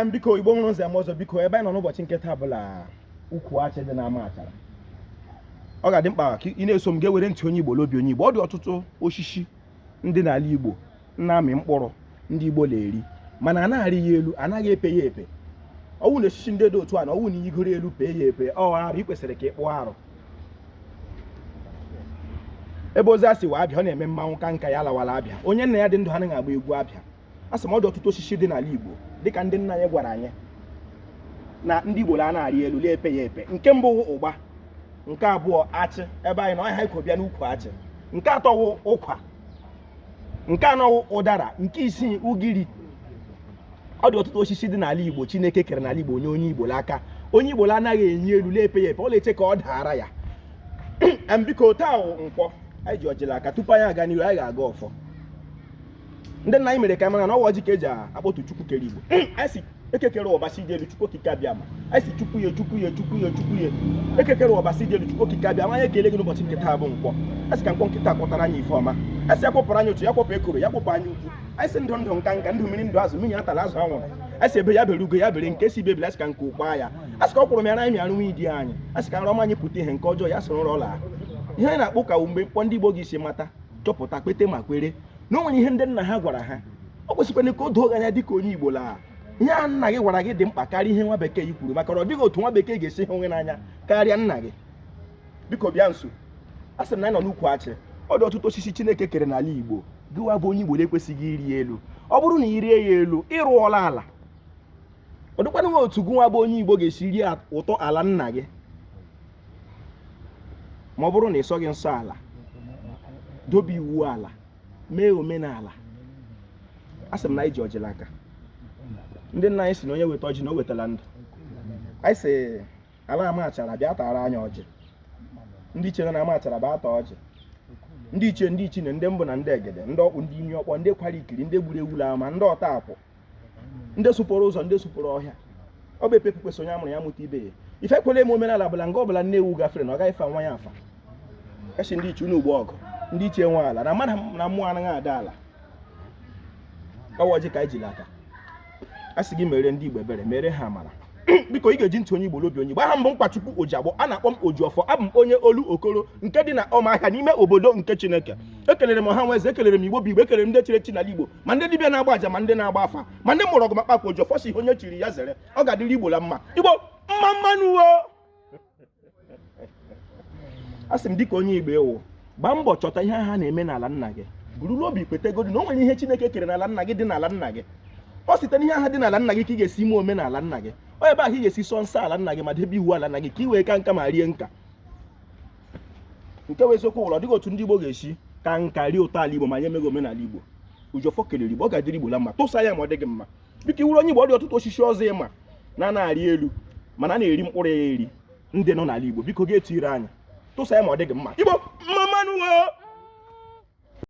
m biko igbo mụrụ nze mụọ ọzọ biko ebe anyị nọ n'ụbọchị nke taa bụla ukwu achị dị na amachara ọ ga-adị mkpa ka ị na-eso m ga-ewere ntị onye igbo na obi onye igbo ọ dị ọtụtụ osisi ndị n'ala igbo na-amị mkpụrụ ndị igbo na-eri mana anaghị arị ya elu anaghị epe ya epe ọ wụ na osisi ndị dị otu a na ọ wụ na igoro elu pee ya epe ọ arụ ị kwesịrị ka ị kpụọ arụ ebe ozi a si wee abịa ọ na-eme mmanwụ ka nka ya lawara abịa onye nna ya dị ndụ anaghị agba egwu abịa a sị m ọ dị ọtụtụ osisi dị n'ala Igbo dịka ndị nna anyị gwara anyị na ndị Igbo anaghị arị elu la-epe ya epe nke mbụ wụ ụgba nke abụọ achị ebe anyị nọ ọ nya ha ikwo bịa n'ukwu achị nke atọ wụ ụkwa nke anọ wụ ụdara nke ise ugiri ọ dị ọtụtụ osisi dị n'ala Igbo Chineke kere n'ala Igbo onye onye Igbo aka onye Igbo anaghị enyi elu la-epe ya epe ọ na-eche ka ọ daara ya biko taa wụ nkwọ anyị ji ọjị la aka tupu anyị aga n'ihu anyị ga-agọ ọfọ ndị nna anyị mere ka mara na ọ wụ ọjị ka e ji akpọtụ chukwu kere igbo anyị ekekere ọbasi dị elu chukwu okike abịama anyị sị chukwu ya chukwu ya chukwu ya chukwu ya ekekere ọbasi dị elu chukwu okike abịama anyị ekele gị n'ụbọchị nke taa bụ nkwọ a sị ka nkwọ nke taa kwọtara anyị ife ọma a sị ya kpọpụrụ anyị otu ya kpọpụ ekworo ya kpọpụ anya ukwu anyị sị ndụ ndụ nka nka ndụ mmiri ndụ azụ mmiri atala azụ anwụla a sị egbe ya bere ugo ya bere nke sị ibe ebela a sị ka nku kwaa ya a sị ka ọ kwụrụ m ya na anyị mịarụ nwa idi anyị a sị ka nrọ ọma anyị pụta ihe nke ọjọọ ya soro ụra ihe anyị na-akpụ ka mgbe mkpọ ndị Igbo gị si mata chọpụta kpete ma kwere na o nwere ihe ndị nna ha gwara ha o kwesịkwara ka o doo gị anya dịka onye Igbo la ihe a nna gị gwara gị dị mkpa karịa ihe nwa bekee yi kwuru maka na ọ dịghị otu nwa bekee ga-esi hụ gị n'anya karịa nna gị biko bịa nso a sị na anyị nọ n'ukwu achị ọ dị ọtụtụ osisi Chineke kere n'ala Igbo gịwa bụ onye Igbo na-ekwesịghị ịrị elu ọ bụrụ na ị rịa ya elu ị rụọla ala ọ dịkwanụghị otu gụnwa bụ onye Igbo ga-esi rie ụtọ ala nna gị ma ọ bụrụ na ị sọghị nsọ ala dobe iwu ala mee omenala a sị m na anyị ji ọjị la aka ndị nna anyị sị na onye weta ọjị na o wetala ndụ anyị sị ala amachara bịa tara anyị ọjị ndị ichie nna amachara bịa taa ọjị ndị ichie ndị ichie nne ndị mbụ na ndị egede ndị okpu ndị imi ọkpọ ndị kwara ikiri ndị gburu ewu la ama ndị ọta akwụ ndị sụpụrụ ụzọ ndị sụpụrụ ọhịa ọ bụ epepu kwesị onye a mụrụ ya mụta ibe ya ife kwere eme omenala bụla nga ọbụla nne ewu gafere na ọ gaghị afa nwa ya afa kachi ndị ichie unu gboo ọgụ ndị ichie nwe ala na mmadụ na mmụọ anaghị ada ala ọ wụ ọjị ka anyị ji la aka a sị gị mere ndị igbo ebere mere ha amara biko ị ga-eji ntị onye igbo la obi onye igbo aha m bụ nkwachukwu ojiagbọ a na-akpọ m oji ọfọ abụ m onye olokoro nke dị na ọmahịa n'ime obodo nke chineke ekelere m ọha nwe eze ekelere m igbo bụ igbo ekelere m ndị chiri echi n'ala igbo ma ndị dibịa na-agba aja ma ndị na-agba afa ma ndị mụrụ ọgwụ ma kpakwa ojiọfọ sị ihe onye chiri ya zere ọ ga-adịrị igbo la mma igbo mma mma nụ o a sị m dịka onye igbo ị wụ gbaa mbọ chọta ihe ha na-eme n'ala nna gị buru n'obi kwetagodi na o nwere ihe chineke kere n'ala nna gị dị n'ala nna gị ọ site n'ihe ahụ dị n'ala nna gị ka ị ga-esi ime omenala nna gị ọ ebe ahụ ị ga-esi sọ nsọ ala nna gị ma debe iwu ala nna gị ka ị wee ka nka ma rie nka nke wụ eziokwu wụ la ọ dịghị otu ndị Igbo ga-esi ka nka rie ụtọ ala Igbo ma anyị emeghị omenala Igbo Ojiọfọ kelere Igbo ọ ga-adịrị Igbo la mma tụsa ya ma ọ dị gị mma biko ị wụrụ onye Igbo ọ dị ọtụtụ osisi ọzọ ị ma na a na-arị elu mana a na-eri mkpụrụ ya eri ndị nọ n'ala Igbo biko ga-etiri anyị tụsa ya ma ọ dị gị mma Igbo mma mma nụ